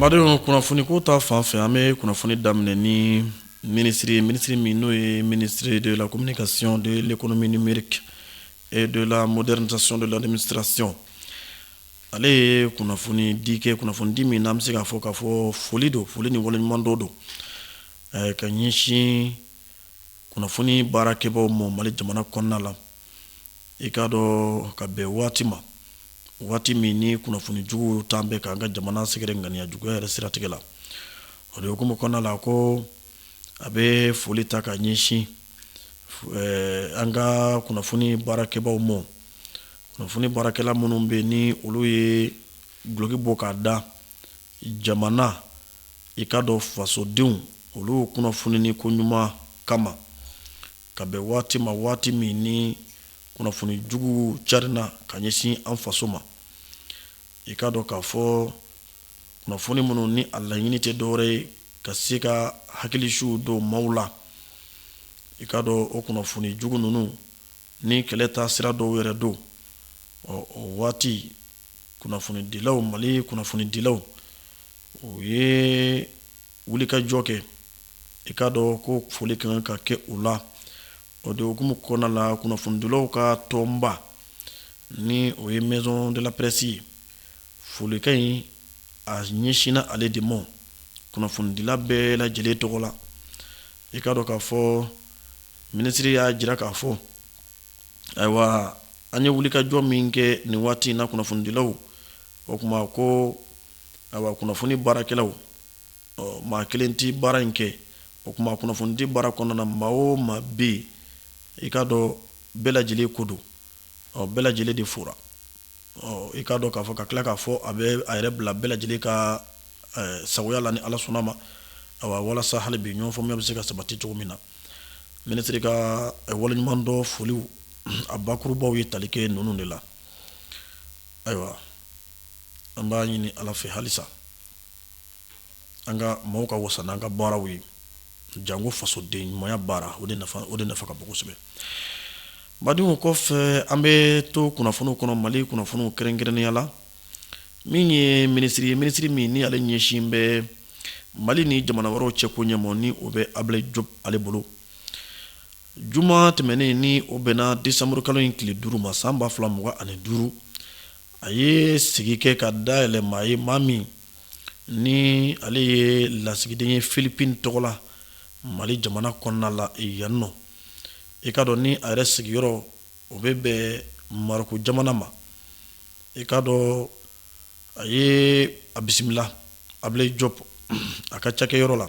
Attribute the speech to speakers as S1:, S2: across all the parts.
S1: Badenw kunnafoni ko ta fan fɛ an bɛ kunnafoni daminɛ ni minisiri ye minisiri min n'o ye ministre de la communication de l'économie numérique et de la modernisation de l'administration ale ye kunnafonidi kɛ kunnafonidi min n'an bɛ se k'a fɔ k'a fɔ foli don foli ni waleɲumandɔn don ka ɲɛsin kunnafoni baarakɛbaaw ma mali jamana kɔnɔna la i k'a dɔn ka bɛn waati ma waati min ni kunnafoni jugu tun bɛ k'an ka jamana sɛgɛrɛ ŋaniya juguya yɛrɛ siratigɛ la o de hukumu kɔnɔna la ko a bɛ foli ta ka ɲɛsin eh, an ka kunnafoni baarakɛbaaw ma kunnafoni baarakɛla minnu bɛ ni olu ye duloki bɔ k'a da jamana i k'a dɔn fasodenw olu kunnafonini ko ɲuman kama ka bɛn waati ma waati min ni kunnafoni jugu carinna ka ɲɛsin an faso ma i k'a dɔn k'a fɔ kunnafoni minnu ni a laɲini tɛ dɔwɛrɛ ye ka se ka hakilisiw don maaw la i k'a dɔn o kunnafoni jugu ninnu ni kɛlɛ taasira dɔw yɛrɛ don ɔ o waati kunnafonidilaw mali kunnafonidilaw u ye wulikajɔ kɛ i k'a dɔn ko foli ka kan ka kɛ o la o de hukumu kɔnɔna la kunnafonidilaw ka tɔnba ni o ye maison de la presse ye folikan in a ɲɛsinna ale de ma kunnafonidila bɛɛ lajɛlen tɔgɔ la i k'a dɔn k'a fɔ minisiri y'a jira k'a fɔ ayiwa a ye wulikajɔ min kɛ nin waati in na kunnafonidilaw o tuma ko ayiwa kunnafoni baarakɛlaw maa kelen tɛ baara in kɛ o tuma kunnafonidi baara kɔnɔna na maa o maa bɛ yen i k'a dɔn bɛɛ lajɛlen ko don ɔ bɛɛ lajɛlen de fora i k'a dɔn k'a fɔ ka tila k'a fɔ a bɛ a yɛrɛ bila bɛɛ lajɛlen ka sagoya la ni ala sɔnna ma ayiwa walasa hali bi ɲɔgɔn faamuya bɛ se ka sabati cogo min na minisiri ka waleɲumandɔn foliw a bakurubaw ye tali kɛ ninnu de la ayiwa an b'a ɲini ala fɛ halisa an ka maaw ka wasa n'an ka baaraw ye jango fasoden ɲumanya baara o de nafa ka bon kosɛbɛ badenw kɔfɛ an bɛ to kunnafoniw kɔnɔ mali kunnafoniw kɛrɛnkɛrɛnnenya la min ye minisiri ye minisiri min ni ale ɲɛsin bɛ mali ni jamana wɛrɛw cɛ ko ɲɛ ma ni o bɛ Ablaye Diop ale bolo Juma tɛmɛnen ni o bɛnna desanburu kalo in tile duuru ma san ba fila mugan ani duuru a ye sigi kɛ ka dayɛlɛ maa ye maa min ni ale ye lasigiden ye filipin tɔgɔ la mali jamana kɔnɔna la yan nɔ i k'a dɔn ni a yɛrɛ sigiyɔrɔ o bɛ bɛn marɔku jamana ma i k'a dɔn a ye a bisimila ablaye diop a ka cakɛyɔrɔ la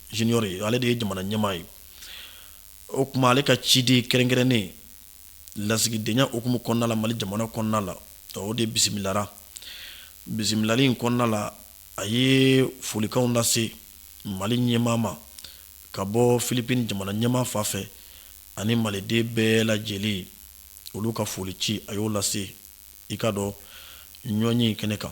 S1: junior ye ale de ye jamana ɲɛmaa ye o kuma ale ka ciden kɛrɛnkɛrɛnnen lasigidenya hukumu kɔnɔna la mali jamana kɔnɔna la o de bisimilara bisimilali in kɔnɔna la a ye folikanw lase mali ɲɛmaa ma ka bɔ filipini jamana ɲɛmaa fan fɛ ani maliden bɛɛ lajɛlen olu ka foli ci a y'o lase i k'a dɔn ɲɔgɔnye kɛnɛ kan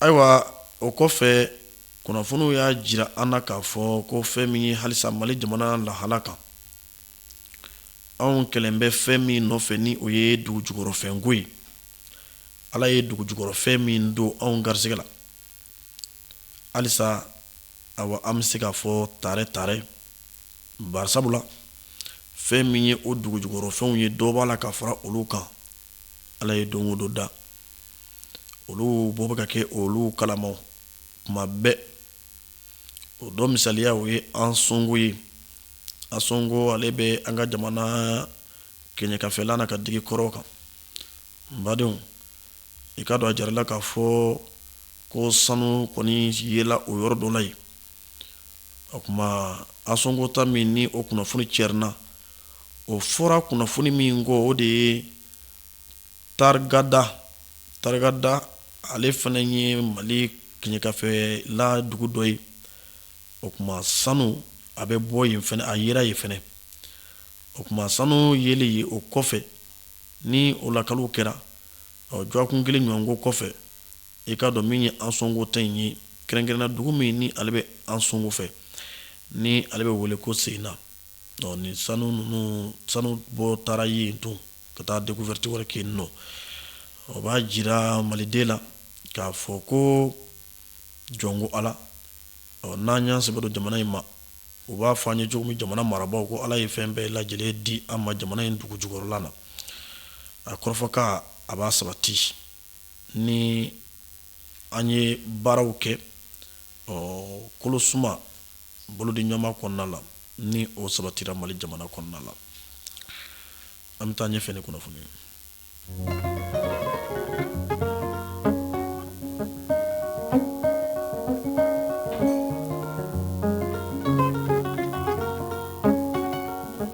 S1: Ayiwa o kɔfɛ kunnafoniw y'a jira an na k'a fɔ ko fɛn min ye halisa mali jamana lahala kan anw kɛlen bɛ fɛn min nɔfɛ ni o ye dugujukɔrɔfɛnko ye ala ye dugujukɔrɔfɛn min don anw garisɛgɛ la halisa awa an bɛ se k'a fɔ tare tare bari sabula fɛn min ye o dugujukɔrɔfɛnw ye dɔ b'a la ka fara olu kan ala ye don o don da olu bɔ bɛ ka kɛ olu kalamaw kuma bɛɛ o dɔ misaliya o ye ansongo ye ansongo ale bɛ an ka jamana kɛɲɛkafɛla na ka digi kɔrɔn kan n badenw i k'a dɔn a jirala k'a fɔ ko sanu kɔni yela o yɔrɔ dɔ la yen O kuma ansongo ta min ni o kunnafoni cɛrinna o fɔra kunnafoni min kɔ o de ye tarigada tarigada ale fana ye mali kɛɲɛkafɛla dugu dɔ ye o kuma sanu a bɛ bɔ yen fana a yera yen fana o kuma sanu yelen yen o kɔfɛ ni o lakali kɛra ɔ jɔkun kelen ɲɔgɔn ko kɔfɛ I k'a dɔn min ye Ansongo ta in ye kɛrɛnkɛrɛnna dugu min ni ale bɛ Ansongo fɛ ni ale bɛ wele ko Seyna ni sanu ninnu sanu bɔ taara yen tun ka taa découverte wɛrɛ kɛ nɔ o b'a jira maliden la k'a fɔ ko jɔn ko ala n'an y'an sɛbɛ don jamana in ma u b'a fɔ an ye cogo min jamana marabagaw ko ala ye fɛn bɛɛ lajɛ lajɛlen di an ma jamana in dugu jukɔrɔla la a kɔrɔfɔkan a b'a sabati ni an ye baaraw kɛ kolo suma bolodi ɲɔgɔnma kɔnɔna la ni o sabatira mali jamana kɔnɔna la an bɛ taa ɲɛfɛ ni kunnafoni ye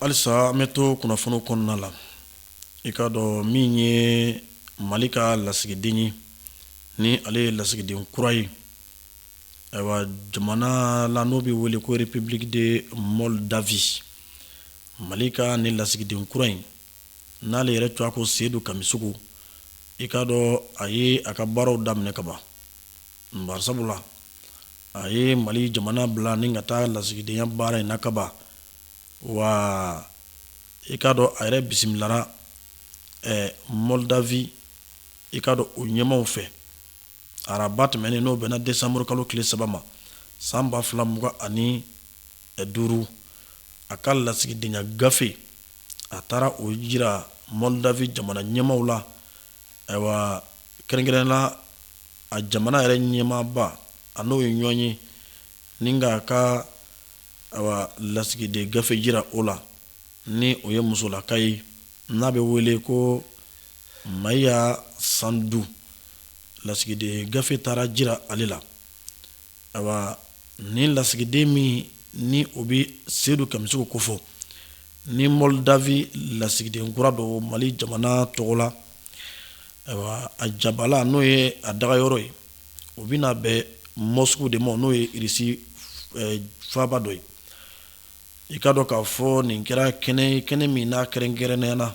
S1: halisa an bɛ to kunnafoni kɔnɔna la i k'a dɔn min ye mali ka lasigiden ye ni ale ye lasigiden kura ye ayiwa jamana la n'o bɛ wele ko République de Moldavie mali ka nin lasigiden kura in n'ale yɛrɛ tɔgɔ ko Seydou Kamissoko i k'a dɔn a ye a ka baaraw daminɛ kaban Bari sabula a ye mali jamana bila ni ka taa lasigidenya baara in na kaban wa i k'a dɔn a yɛrɛ bisimilara Moldavie i k'a dɔn o ɲɛmaw fɛ araba tɛmɛnen n'o bɛnna desanburu kalo tile saba ma san ba fila mugan ani duuru a ka lasigidenya gafe a taara o jira Moldavie jamana ɲɛmaw la Ayiwa kɛrɛnkɛrɛn na a jamana yɛrɛ ɲɛmaaba a n'o ye ɲɔgɔn ye ni k'a ka lasigiden gafe jira o la ni o ye musolaka ye n'a bɛ wele ko Maia Sandu lasigiden gafe taara jira ale la ayiwa nin lasigiden min ni o bɛ Seydou Kamissoko kofɔ ni Moldavie lasigiden kura don mali jamana tɔgɔ la ayiwa a jabala n'o ye a daga yɔrɔ ye o bɛna bɛn Moscou de ma n'o ye Irisi eh, faaba dɔ ye i k'a dɔn k'a fɔ nin kɛra kɛnɛ kɛnɛ min n'a kɛrɛnkɛrɛnnenya na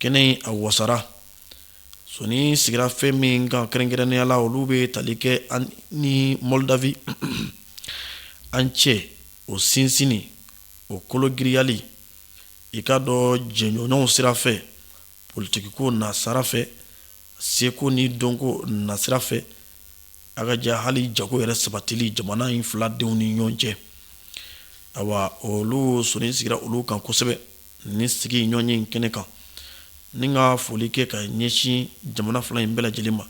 S1: kɛnɛ in a wasara sɔnin sigira fɛn min kan kɛrɛnkɛrɛnnenya la olu bɛ tali kɛ an ni Moldavie an cɛ o sinsinni o kologirinyali i k'a dɔn jɛɲɔgɔnw sira fɛ politikiko nasira fɛ seko ni dɔnko nasira fɛ a ka ja hali jago yɛrɛ sabatili jamana in fila denw ni ɲɔgɔn cɛ awa olu sɔnin sigira olu kan kosɛbɛ Ni sigi ɲɔgɔn ye in kɛnɛ kan ni ka foli kɛ ka ɲɛsin jamana fila in bɛɛ lajɛlen ma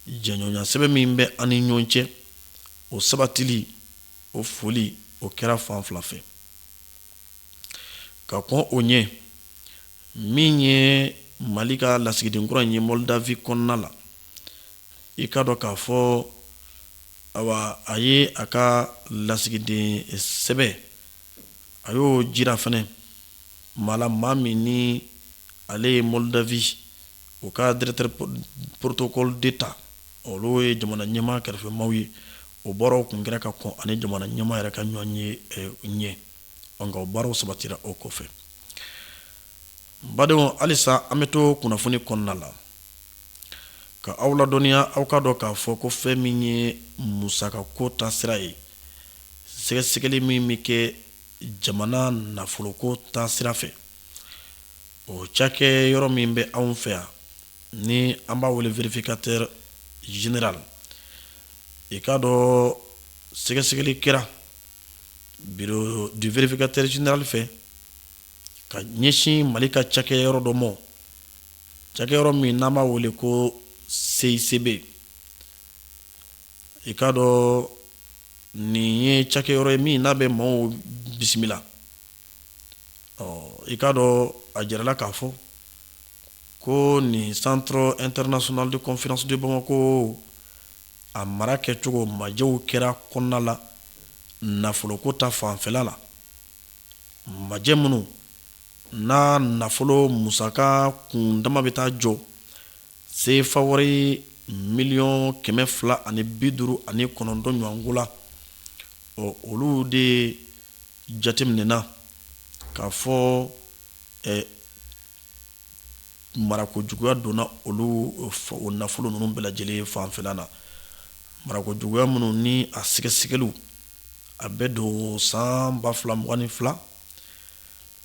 S1: jɛɲɔgɔnya sɛbɛn min bɛ an ni ɲɔgɔn cɛ o sabatili o foli o kɛra fan fila fɛ ka kɔn o ɲɛ min ye mali ka lasigiden kura in ye Moldavie kɔnɔna la i ka dɔn k'a fɔ a a ye a ka lasigiden sɛbɛn A y'o jira fɛnɛ maa la maa min ni ale ye Moldavie o ka directeur protocole d'état olu ye jamana ɲɛmaa kɛrɛfɛmaw ye o baaraw kun kɛra ka kɔn ani jamana ɲɛmaa yɛrɛ ka ɲɔgɔn ye ɲɛ nka o baaraw sabatira o kɔfɛ badenw halisa an bɛ to kunnafoni kɔnɔna la ka aw ladɔnniya aw ka dɔn k'a fɔ ko fɛn min ye musakako ta sira ye sɛgɛsɛgɛli min bɛ kɛ jamana nafoloko ta sira fɛ o cakɛ yɔrɔ min bɛ anw fɛ yan ni an b'a wele vérificateur général i k'a dɔn sɛgɛsɛgɛli kɛra bureau du vérificateur général fɛ ka ɲɛsin mali ka cakɛ yɔrɔ dɔ ma cakɛ yɔrɔ min n'an b'a wele ko CICB i k'a dɔn nin ye cakɛ yɔrɔ ye min n'a bɛ maaw bisimila i k'a dɔn a jirala k'a fɔ ko nin centre international de conférence de Bamako a mara kɛcogo majɛw kɛra kɔnɔna la nafoloko ta fanfɛla la majɛ minnu n'a nafolo musaka kun dama bɛ taa jɔ Sefa wari miliyɔn kɛmɛ fila ani bi duuru ani kɔnɔntɔn ɲɔgɔnko la ɔ olu de jateminɛna k'a fɔ marako juguya donna olu o nafolo ninnu bɛɛ lajɛlen fanfɛla na marako juguya minnu ni a sɛgɛsɛgɛliw a bɛ don san ba fila mugan ni fila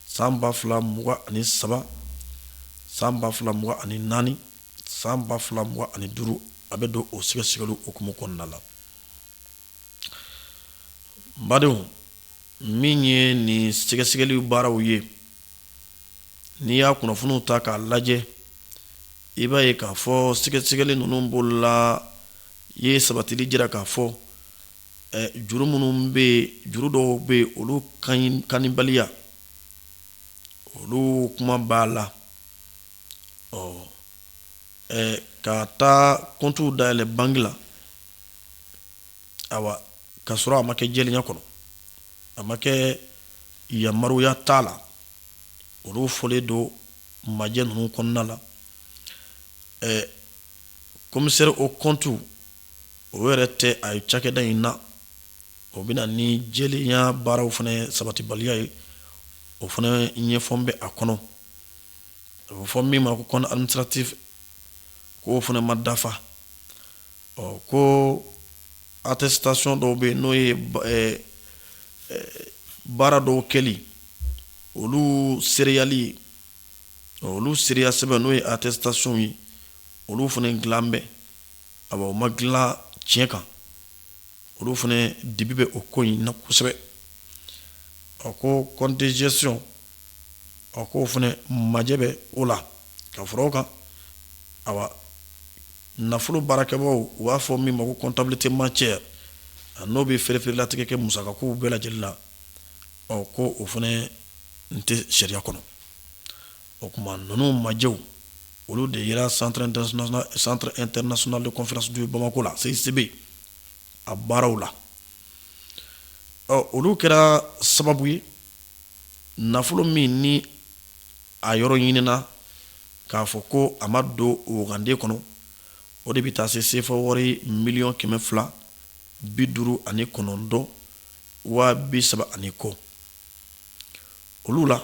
S1: san ba fila mugan ani saba san ba fila mugan ani naani san ba fila mugan ani duuru a bɛ don o sɛgɛsɛgɛliw hukumu kɔnɔna la badenw min ye nin sɛgɛsɛgɛli baaraw ye n'i y'a kunnafoniw ta k'a lajɛ i b'a ye k'a fɔ sɛgɛsɛgɛli ninnu bolola ye sabatili jira k'a fɔ juru minnu bɛ yen juru dɔw bɛ yen olu kanibaliya olu kuma b'a la ɔ ka taa kɔntu dayɛlɛ banki la ayiwa ka sɔrɔ a ma kɛ jɛlenya kɔnɔ a ma kɛ yamaruya t'a la olu fɔlen don majɛ ninnu kɔnɔna la commissaire aux comptes o yɛrɛ tɛ a ye cakɛda in na o bɛ na ni jɛlenya baaraw fana sabatibaliya ye o fana ɲɛfɔ bɛ a kɔnɔ a bɛ fɔ min ma ko compte administratif k'o fana ma dafa ɔ ko attestation dɔw bɛ yen n'o ye baara dɔw kɛli olu seereyali ye olu seereya sɛbɛn n'o ye attestation ye olu fana dilan bɛɛ A o ma dilan tiɲɛ kan olu fana dibi bɛ o ko in na kosɛbɛ a ko compte de gestion ko o fana majɛ bɛ o la ka fara o kan a nafolo baarakɛbaaw u b'a fɔ min ma ko comptabilité matière n'o bɛ fɛɛrɛlatigɛ kɛ musakakow bɛɛ lajɛlen la ɔ ko o fana n tɛ sariya kɔnɔ O tuma ninnu majɛw olu de yera centre international de conférence du Bamako la CICB a baaraw la ɔ olu kɛra sababu ye nafolo min ni a yɔrɔ ɲinina k'a fɔ ko a ma don waganden kɔnɔ o de bɛ taa se sefa wari miliyɔn kɛmɛ fila bi duuru ani kɔnɔntɔn waa bi saba ani kɔ olu la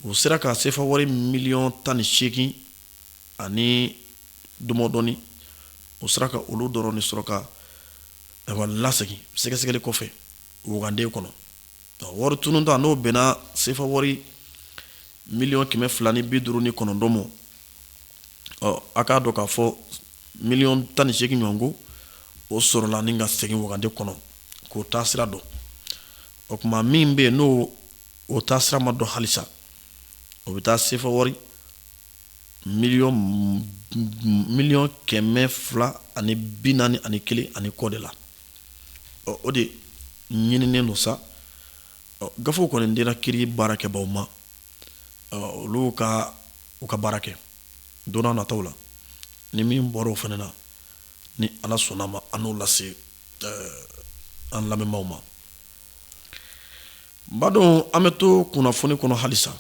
S1: u sera ka sefa wari miliyɔn tan ni seegin ani dɔmɔdɔni u sera ka olu dɔrɔn ni sɔrɔ ka lasegin sɛgɛsɛgɛli kɔfɛ waganden kɔnɔ wari tununta n'o bɛnna sefa wari miliyɔn kɛmɛ fila ni bi duuru ni kɔnɔntɔn ma ɔ a k'a dɔn k'a fɔ miliyɔn tan ni seegin ɲɔgɔn ko o sɔrɔla ni ka segin waganden kɔnɔ k'o taasira dɔn o tuma min bɛ yen n'o o taasira ma dɔn halisa o bɛ taa sefa wari miliyɔn kɛmɛ fila ani bi naani ani kelen ani kɔ de la ɔ o de ɲininen don sa ɔ gafew kɔni dira kiri baarakɛbaaw ma olu ka u ka baara kɛ don na nataw la ni min bɔra o fana na ni Ala sɔnna ma an n'o lase an lamɛnbaaw ma Baden an bɛ to kunnafoni kɔnɔ halisa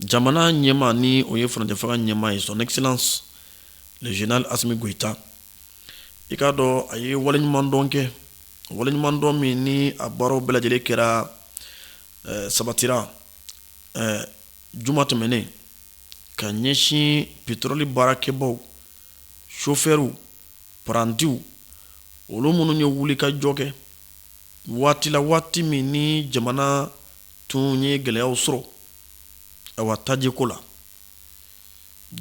S1: jamana ɲɛmaa ni o ye furancɛfanga ɲɛmaa ye son excellence le général Asimi Goyita i k'a dɔn a ye waleɲumandɔn kɛ waleɲumandɔn min ni a baaraw bɛɛ lajɛlen kɛra eh, sabatira eh, juma tɛmɛnen ka ɲɛsin petɔrɔli baarakɛbaw sofɛriw parantiw olu minnu ye wulikajɔ kɛ waati la waati min ni jamana tun ye gɛlɛyaw sɔrɔ awa tajiko la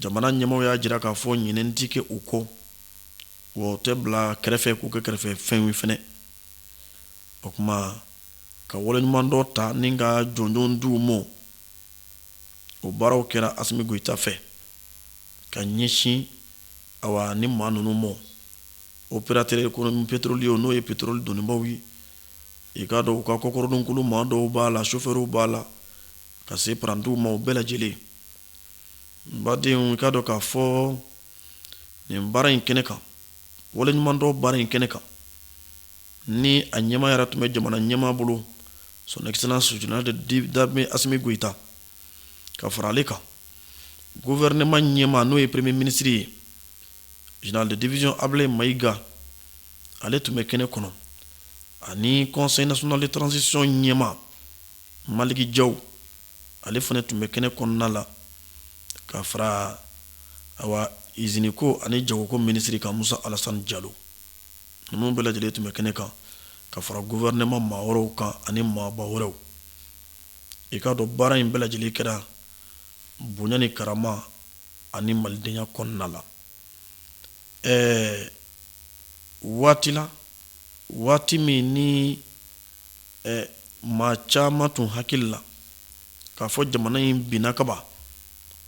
S1: jamana ɲɛmaa y'a jira k'a fɔ ɲinɛ tɛ kɛ u kɔ wa o tɛ bila kɛrɛfɛ k'u kɛ kɛrɛfɛ fɛnw fɛnɛ o tuma ka waleɲumandɔn ta ni ka jɔnjɔn di u ma o baaraw kɛra Asimi Goyita fɛ ka ɲɛsin awa nin maa ninnu ma opérateur économique pétrolier n'o ye petɔrɔli donnibaw ye i k'a dɔn u ka kɔkɔrɔdonkulu maa dɔw b'a la sofɛriw b'a la ka se parantiw ma o bɛɛ lajɛlen baden i k'a dɔn k'a fɔ nin baara in kɛnɛ kan waleɲumandɔn baara in kɛnɛ kan ni a ɲɛmaa yɛrɛ tun bɛ jamana ɲɛmaa bolo son excellence général d'armée Asimi Goyita ka fara ale kan gouvernement ɲɛmaa n'o ye premier ministre ye général de division Ablaye Mayiga ale tun bɛ kɛnɛ kɔnɔ ani Conseil national de transition ɲɛmaa Maliki Jaw ale fana tun bɛ kɛnɛ kɔnɔna la ka fara awa iziniko ani jagoko minisiri kan Musa Alasani Jalo ninnu bɛɛ lajɛlen tun bɛ kɛnɛ kan ka fara gouvernement maa wɛrɛw kan ani maaba wɛrɛw i k'a dɔn baara in bɛɛ lajɛlen kɛra bonya ni karama ani malidenya kɔnɔna la ɛɛ waati la waati min ni ɛɛ maa caman tun hakili la k'a fɔ jamana in binna kaba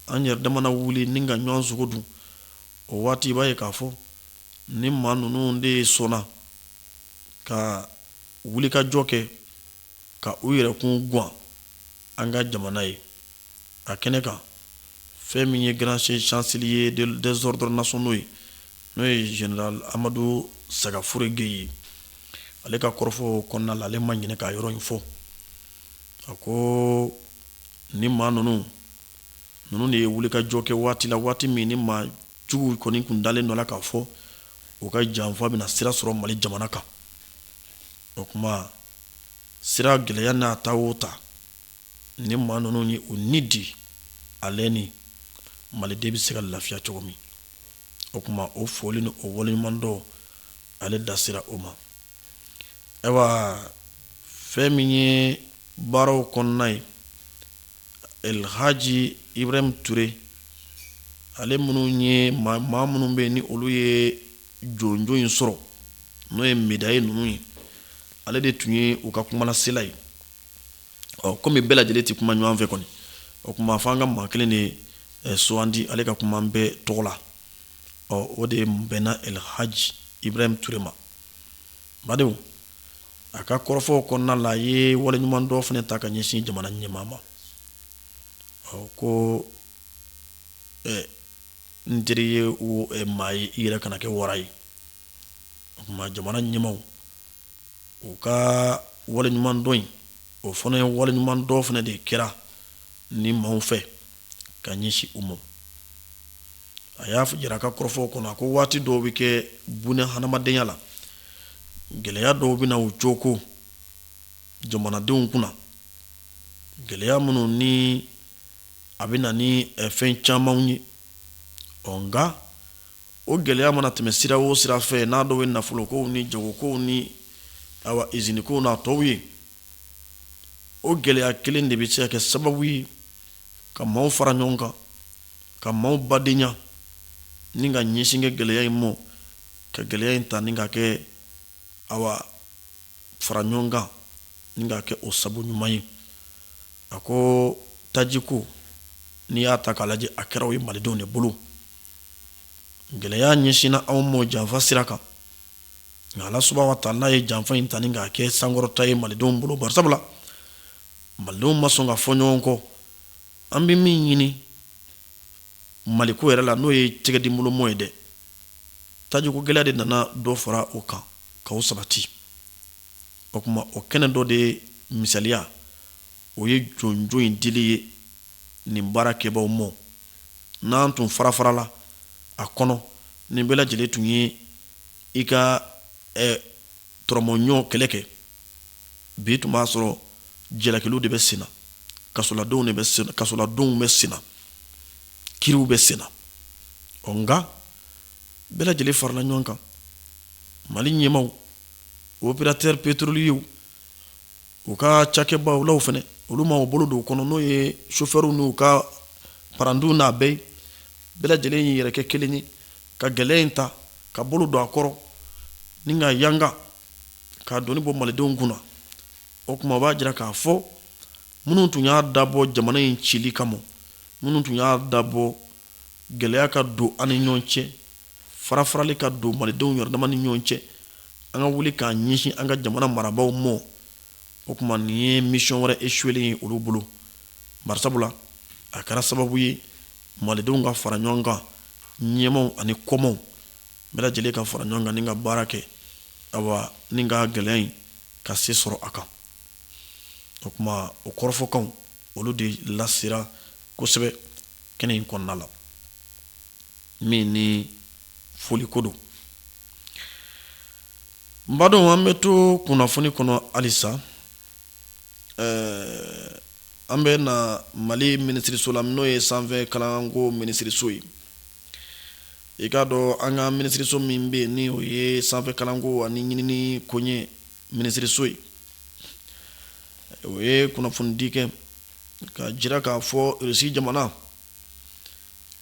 S1: an yɛrɛ dama na wuli ni ka ɲɔgɔn sogo dun o waati i b'a ye k'a fɔ nin maa ninnu de sɔnna ka wulikajɔ kɛ ka u yɛrɛkun guwan an ka jamana ye a kɛnɛ kan, fɛn min ye Grand Chancelier des Ordres Nationaux ye, n'o ye General Amadu Sagafure Gueye ye, ale ka kɔrɔfɔ kɔnɔna la, ale ma ɲinɛ k'a yɔrɔ in fɔ, a ko nin maa ninnu, ninnu de ye wulikajɔ kɛ waati la, waati min ni maa juguw kɔni tun dalen don a la k'a fɔ u ka janfa bɛna sira sɔrɔ Mali jamana kan, o tuma sira gɛlɛya n'a ta o ta ni maa ninnu ye u ni di ale ni maliden bɛ se ka lafiya cogo min o kuma o foli ni o waleɲumandɔn ale da sera o ma ayiwa fɛn min ye baaraw kɔnɔna ye elhaji ibrahim ture ale minnu ye maa minnu bɛ yen ni olu ye jɔnjɔn in sɔrɔ n'o ye médaille ninnu ye ale de tun ye u ka kumalasela ye ɔ kɔmi bɛɛ lajɛlen tɛ kuma ɲɔgɔn fɛ kɔni o kuma fɔ an ka maa kelen de eh, sugandi ale ka kuma bɛɛ tɔgɔ la ɔ o de bɛnna elhaji ibrahim ture ma badenw a ka kɔrɔfɔw kɔnɔna la a ye waleɲumandɔn fana ta ka ɲɛsin jamana ɲɛmaa ma ɔ ko eh, n'i teri ye eh, maa ye i yɛrɛ kana kɛ wara ye o kuma jamana ɲɛmaw u ka waleɲumandɔn in o fana ye waleɲumandɔn fana de kɛra nin maaw fɛ ka ɲɛsin u ma a y'a jira a ka kɔrɔfɔw kɔnɔ a ko waati dɔw bɛ kɛ bunɛ hadamadenya la gɛlɛya dɔw bɛ na u cooko jamanadenw kunna gɛlɛya minnu ni a bɛ na ni fɛn camanw ye ɔ nka o gɛlɛya mana tɛmɛ sira o sira fɛ n'a dɔw ye nafolokow ni jagokow ni awa izinikow n'a tɔw ye o gɛlɛya kelen de bɛ se ka kɛ sababu ye ka maaw fara ɲɔgɔn kan ka maaw badenya ni ka ɲɛsin kɛ gɛlɛya in ma ka gɛlɛya in ta ni k'a kɛ awa fara ɲɔgɔn kan ni k'a kɛ o sabu ɲuman ye a ko tajiko n'i y'a ta k'a lajɛ a kɛra o ye malidenw de bolo gɛlɛya ɲɛsinna anw mɔ janfa sira kan nka ala subahana wa taala ye janfa in ta ni k'a kɛ sankɔrɔta ye malidenw bolo bari sabula malidenw ma sɔn ka fɔ ɲɔgɔn kɔ an bɛ min ɲini mali ko yɛrɛ la n'o ye tɛgɛdi bolomɔ ye dɛ tajiko gɛlɛya de nana dɔ fara o kan k'o sabati o kuma o kɛnɛ dɔ de misaliya o ye jɔnjɔn in dili ye nin baara kɛbaw mɔ n'an tun fara farala a kɔnɔ ni bɛɛ lajɛlen tun ye i ka tɔrɔmɔɲɔgɔn kɛlɛ kɛ bi tun b'a sɔrɔ jalakiliw de bɛ sen na kasoladonw de bɛ sen na kasoladonw bɛ sen na kiriw bɛ sen na ɔ nka bɛɛ lajɛlen farala ɲɔgɔn kan mali ɲɛmaw opérateur pétrolier u ka cakɛbaalaw fɛnɛ olu ma u bolo don kɔnɔ n'o ye chauffeur n'u ka parantiw n'a bɛɛ ye bɛɛ lajɛlen y'i yɛrɛ kɛ kelen ye ka gɛlɛya in ta ka bolo don a kɔrɔ ni ka yanga k'a doni bɔ malidenw kunna o kuma b'a jira k'a fɔ minnu tun y'a dabɔ jamana in cili kama minnu tun y'a dabɔ gɛlɛya ka don an ni ɲɔgɔn cɛ farafarali ka don malidenw yɛrɛ dama ni ɲɔgɔn cɛ an ka wuli k'a ɲɛsin an ka jamana marabaaw mɔ o kuma nin ye misiyɔn wɛrɛ esuwelen ye olu bolo barisabula a kɛra sababu ye malidenw ka fara ɲɔgɔn kan ɲɛmaw ani kɔmaw bɛɛ lajɛlen ka fara ɲɔgɔn kan ni ka baara kɛ awa ni ka gɛlɛya in ka se sɔrɔ a kan o kuma o kɔrɔfɔkanw olu de lasera kosɛbɛ kɛnɛ in kɔnɔna la min ni foliko don n badon an bɛ to kunnafoni kɔnɔ halisa ɛɛ an bɛ na mali minisiriso la n'o ye sanfɛ kalanko minisiriso ye i k'a dɔn an ka minisiriso min bɛ yen ni o ye sanfɛ kalanko ani ɲinini koɲɛ minisiriso ye o ye kunnafonidi kɛ k'a jira k'a fɔ irisi jamana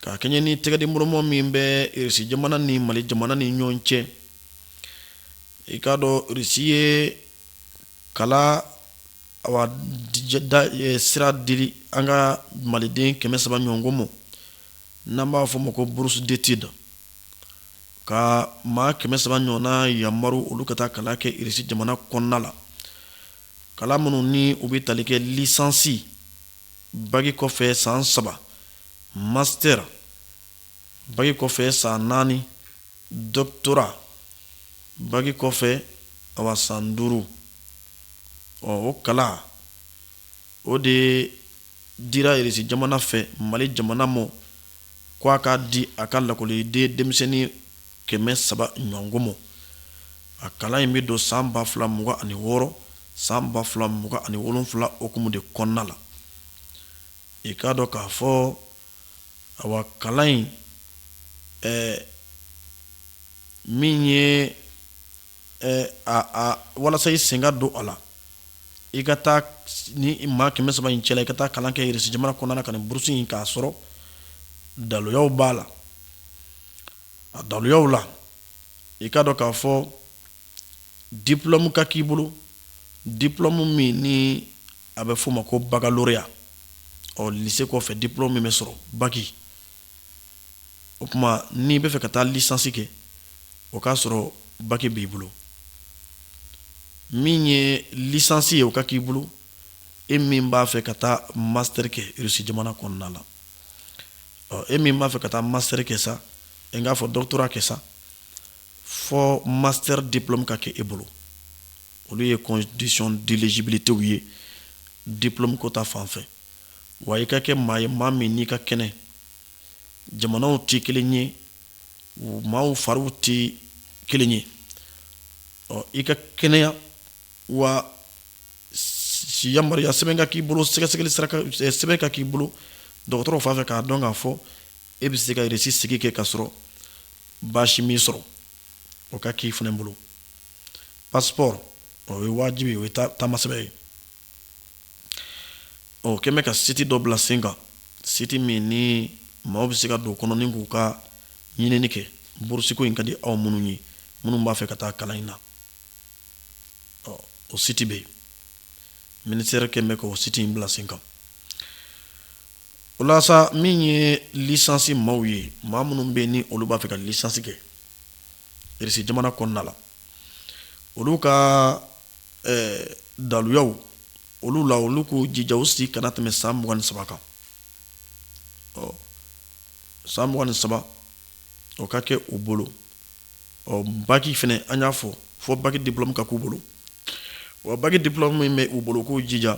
S1: ka kɛɲɛ ni tɛgɛdiɲɔgɔnma min bɛ irisi jamana ni mali jamana ni ɲɔgɔn cɛ i k'a dɔn irisi ye kalan awa sira di an ka maliden kɛmɛ saba ɲɔgɔnko mɔ n'an b'a fɔ o ma ko burusi detidi ka maa kɛmɛ saba ɲɔgɔnna yamaru olu ka taa kalan kɛ irisi jamana kɔnɔna la kalan minnu ni u bɛ tali kɛ lisansi baki kɔfɛ san saba masitɛri baki kɔfɛ san naani Doctorat baki kɔfɛ awa san duuru ɔ o kalan o de dira Irisi jamana fɛ Mali jamana mɔ ko a k'a di a ka lakɔliden denmisɛnnin kɛmɛ saba ɲɔgɔnko mɔ. A kalan in bɛ don san ba fila mugan ani wɔɔrɔ san ba fila mugan ani wolonwula hukumu de kɔnɔna la. I k'a dɔn k'a fɔ Awa kalan in ɛ min ye ɛ walasa i sen ka don a la i ka taa ni maa kɛmɛ saba in cɛla i ka taa kalan kɛ irisi jamana kɔnɔna la ka nin burusi in k'a sɔrɔ daluyaw b'a la a daluyaw la i k'a dɔn k'a fɔ dipulɔmu ka k'i bolo dipulɔmu min ni A bɛ f'o ma ko baccalauréat ɔ lycée kɔfɛ diplôme min bɛ sɔrɔ bac o tuma n'i bɛ fɛ ka taa licence kɛ o k'a sɔrɔ bac b'i bolo min ye licence ye o ka k'i bolo e min b'a fɛ ka taa master kɛ Russie jamana kɔnɔna la ɔ e min b'a fɛ ka taa master kɛ sa n k'a fɔ doctorat kɛ sa fɔ master diplôme ka kɛ e bolo olu ye condition d'éligibilité ye diplôme ko ta fan fɛ wa i ka kɛ maa ye maa min n'i ka kɛnɛ jamanaw tɛ kelen ye maaw fariw tɛ kelen ye ɔ i ka kɛnɛya wa yamaruya sɛbɛn ka k'i bolo sɛgɛsɛgɛli sɛbɛn ka k'i bolo dɔgɔtɔrɔw fan fɛ k'a dɔn k'a fɔ e bɛ se ka irisi sigi kɛ ka sɔrɔ baasi m'i sɔrɔ o ka k'i fana bolo pasipɔri o ye wajibi o ye taamasɛbɛn ye u kɔni bɛ ka siti dɔ bila sen kan siti min ni maaw bɛ se ka don kɔnɔ ni k'u ka ɲinini kɛ burusiko in ka di aw minnu ye minnu b'a fɛ ka taa kalan in na ɔ o siti bɛ yen minisitɛri kɔni bɛ ka o siti in bila sen kan o la sa min ye lisansi maaw ye maa minnu bɛ ni olu b'a fɛ ka lisansi kɛ irisi jamana kɔnɔna la olu ka daluyaw olu la olu k'u jija u si kana tɛmɛ san mugan ni saba kan ɔ san mugan ni saba o ka kɛ u bolo ɔ baki fana an y'a fɔ fɔ baki diplɔmu ka k'u bolo wa baki diplɔmu min bɛ u bolo k'u jija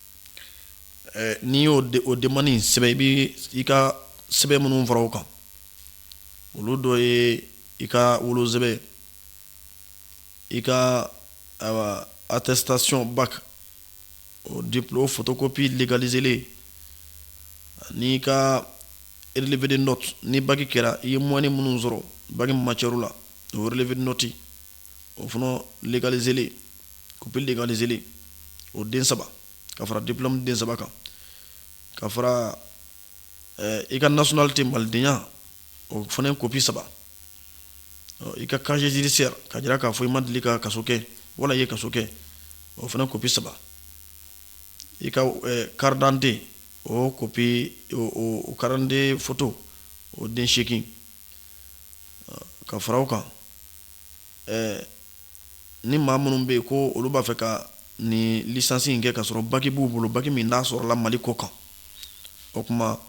S1: n'i y'o o demande in sɛbɛn i bɛ i ka sɛbɛn minnu fara o kan olu dɔ ye i ka wolosɛbɛn i ka atɛsitasiyɔn baki o diplɔmu fotokopi legalizelen an'i ka relevé de notes ni baki kɛra i ye moyenne minnu sɔrɔ baki matièrew la o relevé de notes o fana legalizelen kopi legalizelen o den saba ka fara diplɔmu den saba kan ka fara eh, i ka nationalité malidenya o fana kopi saba i ka casier judiciaire ka jira k'a fɔ i ma deli ka kaso kɛ wala i ye kaso kɛ o fana kopi saba i ka eh, karidante o kopi o karidante foto o den seegin ka fara o kan ni maa minnu bɛ yen ko olu b'a fɛ ka nin licence in kɛ ka sɔrɔ bac b'u bolo bac min n'a sɔrɔla mali kɔ kan o kuma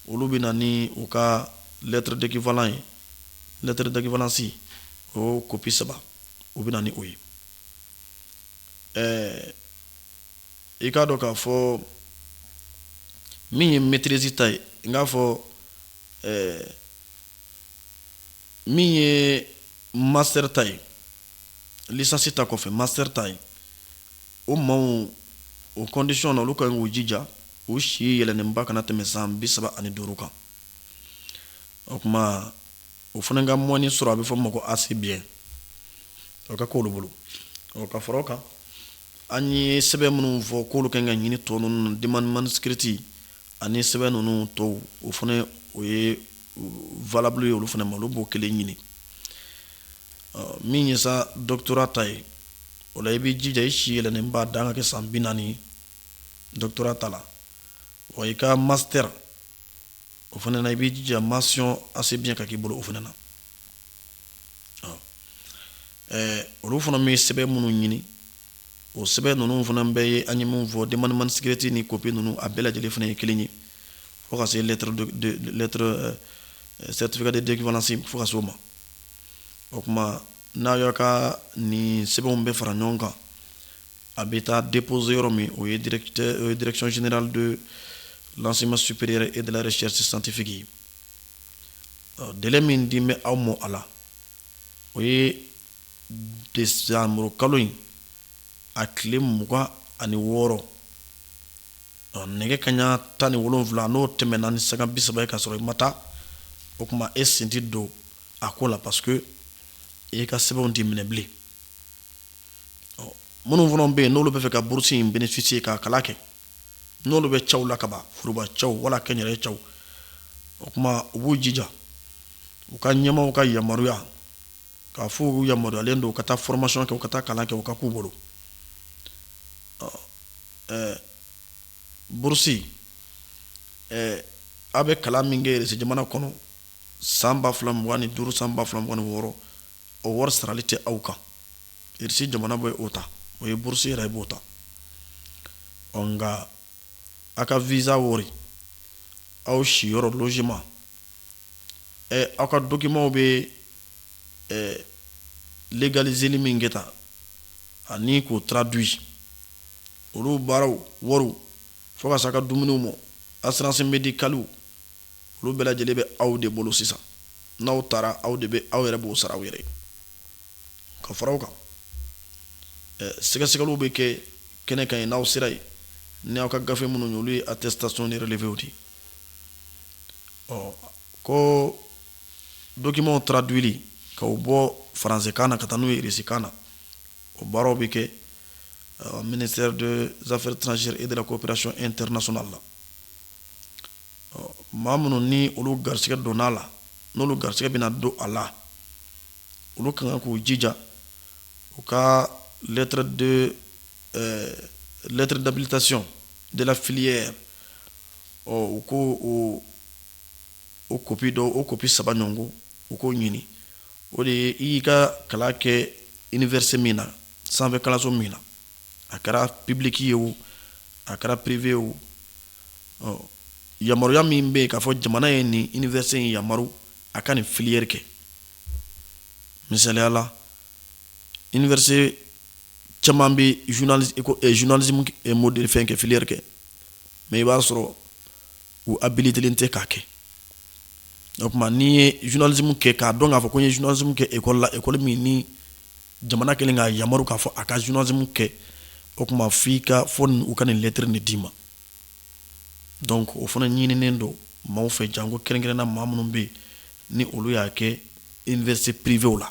S1: olu bɛ na ni u ka lettre d'équivalent ye lettre d'équivalence o copie saba u bɛ na ni o ye ɛɛ i k'a dɔn k'a fɔ min ye maîtrise ta ye n k'a fɔ ɛɛ min ye master ta ye licence ta kɔfɛ master ta ye o maaw o condition na olu ka k'u jija u si yɛlɛnnenba kana tɛmɛ san bi saba ani duuru kan o kuma o fana ka moyenne sɔrɔ a bɛ fɔ o ma ko assez bien o ka k'olu bolo ɔ ka fara o kan an ye sɛbɛn minnu fɔ k'olu kan ka ɲini tɔ ninnu demande manuscrite ani sɛbɛn ninnu tɔw o fana o ye valable ye olu fana ma olu b'o kelen ɲini min ye sa doctorat ta ye o la i b'i jija i si yɛlɛnnenba dan ka kɛ san bi naani ye doctorat ta la wa i ka master o fana na i b'i jija mention assez bien ka k'i bolo o fana na olu fana bɛ sɛbɛn minnu ɲini o sɛbɛn ninnu fana bɛɛ ye an ye min fɔ denmaniin sigireti ni kopi ninnu a bɛɛ lajɛlen fana ye kelen ye fo ka se sɛtifikadenfasi fo ka so ma o tuma n'a y'a ka nin sɛbɛnw bɛ fara ɲɔgɔn kan a bɛ taa depzse yɔrɔ min o ye drecsionsinali don lasesi supere e dare sisi santifiki dɛ min di bɛ aw ma a la o ye desanburu kalo in a tile mugan ani wɔɔrɔ nɛgɛ kaɲa tan ni wolonwula n'o tɛmɛna ni sanga bi saba ye ka sɔrɔ i ma taa o kuma e sen tɛ don a ko la parce que e ka sɛbɛnw tɛ minɛ bilen minnu fana bɛ yen n'olu b'a fɛ ka burusi in bénéficier ka kalan kɛ n'olu bɛ cɛw la kaban foroba cɛw wala kɛnyɛrɛye cɛw o kuma u b'u jija u ka ɲɛmaaw ka yamaruya k'a fɔ u yamaruyalen don ka taa formation kɛ u ka taa kalan kɛ o ka k'u bolo ɛɛ burusi ɛɛ a bɛ kalan min kɛ irisi jamana kɔnɔ san ba fila mugan ni duuru san ba fila mugan ni wɔɔrɔ o wari sarali tɛ aw kan irisi jamana bɛ o ta o ye burusi yɛrɛ b'o ta ɔ nka a ka visa wari aw siyɔrɔ logement aw ka documents bɛ légaliserli min kɛ tan ani k'o traduit olu baaraw wari fo ka se a ka dumuniw ma assurance médicale olu bɛɛ lajɛlen bɛ aw de bolo sisan n'aw taara aw de bɛ aw yɛrɛ b'o sara aw yɛrɛ ka fara o kan sɛgɛsɛgɛliw bɛ kɛ kɛnɛ kan yen n'aw sera yen ni aw ka gafe minnu ye olu ye attestation ni relevé di ko donkimanw taara duli ka bɔ faransekan na ka taa n'u yesikan na o baaraw bɛ kɛ mini zafɛ tsi e de koperec e tɛso la ma minnu ni olu garisɛgɛ don a la n'olu garisɛgɛ bɛna don a la olu kan k'u jija u ka lɛt ɛɛ lettre d'habilitation de la filière ɔ u ko o o kopi dɔ o kopi saba ɲɔgɔn ko u k'o ɲini o de ye i y'i ka kalan kɛ université min na sanfɛ kalanso min na a kɛra public ye o a kɛra privé o ɔ yamaruya min bɛ yen k'a fɔ jamana ye nin université in yamaru a ka nin filière kɛ misaliya la université caman bɛ journalisme modèle fɛn kɛ filière kɛ mais i b'a sɔrɔ u habilitélen tɛ k'a kɛ o tuma n'i ye journalisme kɛ k'a dɔn k'a fɔ ko n ye journalisme kɛ école la école min ni jamana kɛlen k'a yamaru k'a fɔ a ka journalisme kɛ o tuma f'i ka fɔ u ka nin lettre nin d'i ma donc o fana ɲininen don maaw fɛ janko kɛrɛnkɛrɛnna maa minnu bɛ yen ni olu y'a kɛ université privéw la